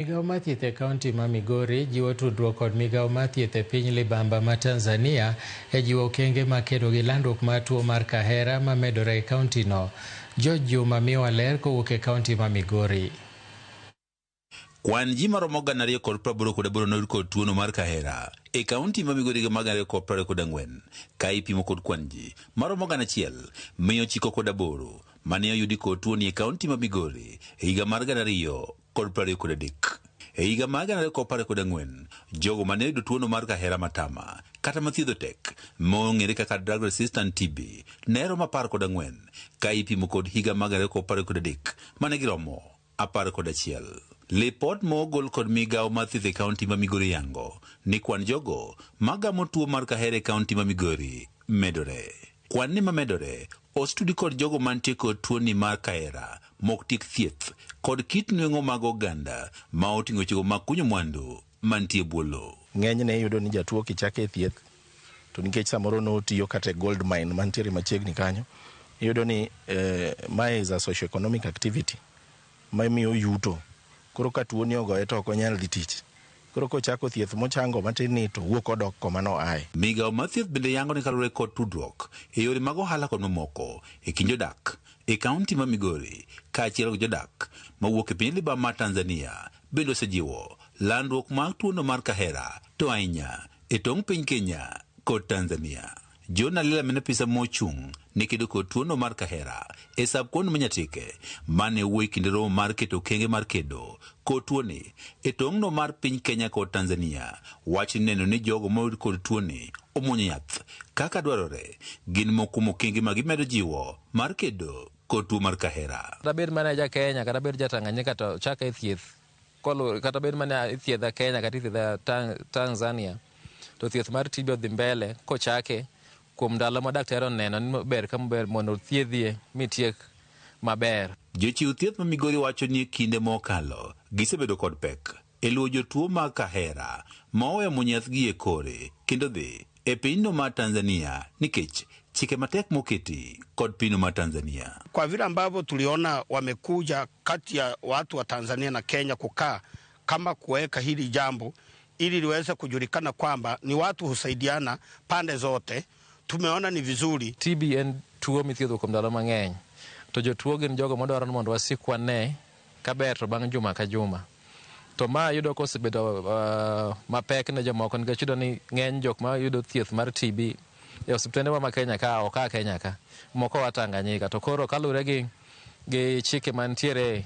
Migao mar thieth e kaunti ma Migori jiwo tudruok kod migao mar thieth e piny libamba ma Tanzania e jiwo okenge ma kedo gi landruok mar tuo mar kahera ma medore e kauntino. George Juma miyowa ler kowuok e kaunti ma Migori. Kwan ji maromo gana ariyo kod praboro kod aboro noyud kod tuono mar kahera e kaunti ma Migori higa mar gana ariyo kod prariyo kod ang'wen ka ipimo kod kwan ji maromo gana achiel mia ochiko kod aboro mane oyudi kod tuoni e kaunti ma Migori e higa mar gana ariyo kod prariyo kod adek. E higa mar gana ariyo kod apar kod ang'wen, jogo ma ne yudo tuono mar kahera matama kata ma thiedho tek mong'ere kaka drug resistant TB ne romo apar kod ang'wen ka ipimo kod higa mar gana ariyo kod apar kod adek ma ne giromo apar kod achiel. Lipot mogol kod migawo mar thieth e kaunti ma Migori yango ni kwan jogo ma gamo tuo mar kahera e kaunti ma Migori medore. Kwanni ma medore Ostudi kod jogo mantie kod tuoni mar kahera mok tiek thieth kod kit nweng'o mag oganda ma oting'o wechego mag kunyo mwandu mantie bwo lowo. Ng'enyne iyudo ni jatuo kichake e thieth to nikech samoro notiyo kata e gold mine mantiere machiegni kanyo, iyudo ni mae is a socio-economic activity. mamiyo yuto koro ka tuoni ogoye to ok onyal dhi tich koro kochako thieth mochango matin ni to owuok odok koma no aye. Migao mar thieth bende yango ni kaluore kod tudruok e yore mag ohala kod mamoko e kind jodak e kaunti ma Migori kaachiel kod jodak mawuok e piny libamba mar Tanzania bende osejiwo landruok mar tuono mar kahera to ahinya e tong piny Kenya kod Tanzania. Jona Lela mene pisa mochung' ne kedo kod tuono mar kahera e sab kuond Manyatike mane wuoyi kinde romo mar keto kenge mar kedo kod tuoni e tong'no mar piny Kenya kod Tanzania wacho ni neno ni jogo moyud kod tuoni omwonyo yath kaka dwarore gin mokumo kenge ma gimedo jiwo mar kedo kod tuo mar kahera. Kata bed mana ja Kenya kata bed ja Tanganyika to chake thieth Koluwore kata bed mane ithiedha Kenya kata ithiedha Tang Tanzania, to thieth mar TB odhi mbele kochake kuom ndalo ma daktari oneno ni ber ka ber mondo othiedhie mitiek maber. Jochiw thieth ma Migori wacho ni e kinde mokalo gisebedo kod pek e luwo jotuo mag kahera ma oweyo munyethgi e kore kendo dhi e pinyno mar Tanzania nikech chike matek moketi kod pinyno mar Tanzania. Kwa vile ambavyo tuliona wamekuja kati ya watu wa Tanzania na Kenya kukaa kama kuweka hili jambo ili liweze kujulikana kwamba ni watu husaidiana pande zote, tumeona ni vizuri. TB en tuo mithiedho kuom ndalo mang'eny, to jotuo gin jogo madwaro ni mondo wasik wane kaber to bang' juma ka juma. To ma ayudo ka osebedo uh, mapek ne jomoko nikech yudo ni ng'eny jok ma yudo thieth mar TB e osiptende ma Kenya ka ok a Kenya ka moko wa Tanganyika to koro kaluwore gi gi chike mantiere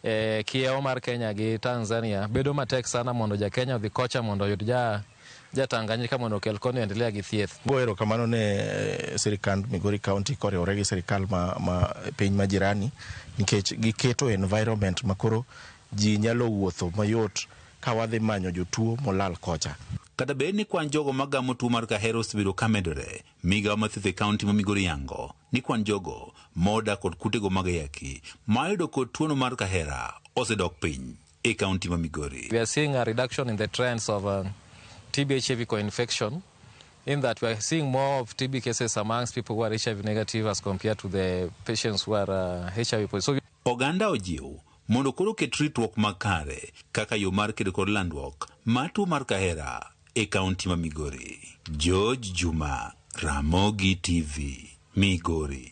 e kiewo mar Kenya gi Tanzania bedo matek sana mondo ja Kenya odhi kocha mondo oyud ja ja Tanganyika mondo okel koni endelea gi thieth. Go erokamano ne eh, sirikand Migori County koriwore gi sirikal ma, ma piny ma jirani nikech giketo environment makoro ji nyalo wuotho mayot ka wadhi manyo jotuo molal kocha. Kata bed ni kwan jogo ma gamo tuo mar kahera osebedo ka medore, migawo mathieth e kaunti ma Migori yango ni kwan jogo ma odak kod kutego mag ayaki ma oyudo kod tuono mar kahera osedok piny. e kaunti ma Migori. We are seeing a reduction in the trends of uh, TB HIV co-infection in that we are seeing more of TB cases amongst people who are HIV negative as compared to the patients who are uh, HIV positive. So we Oganda ojiw mondo koro oket ritruok makare kaka yo mar kedo kod landruok mar tuo mar kahera e kaunti ma Migori. George Juma, Ramogi TV, Migori.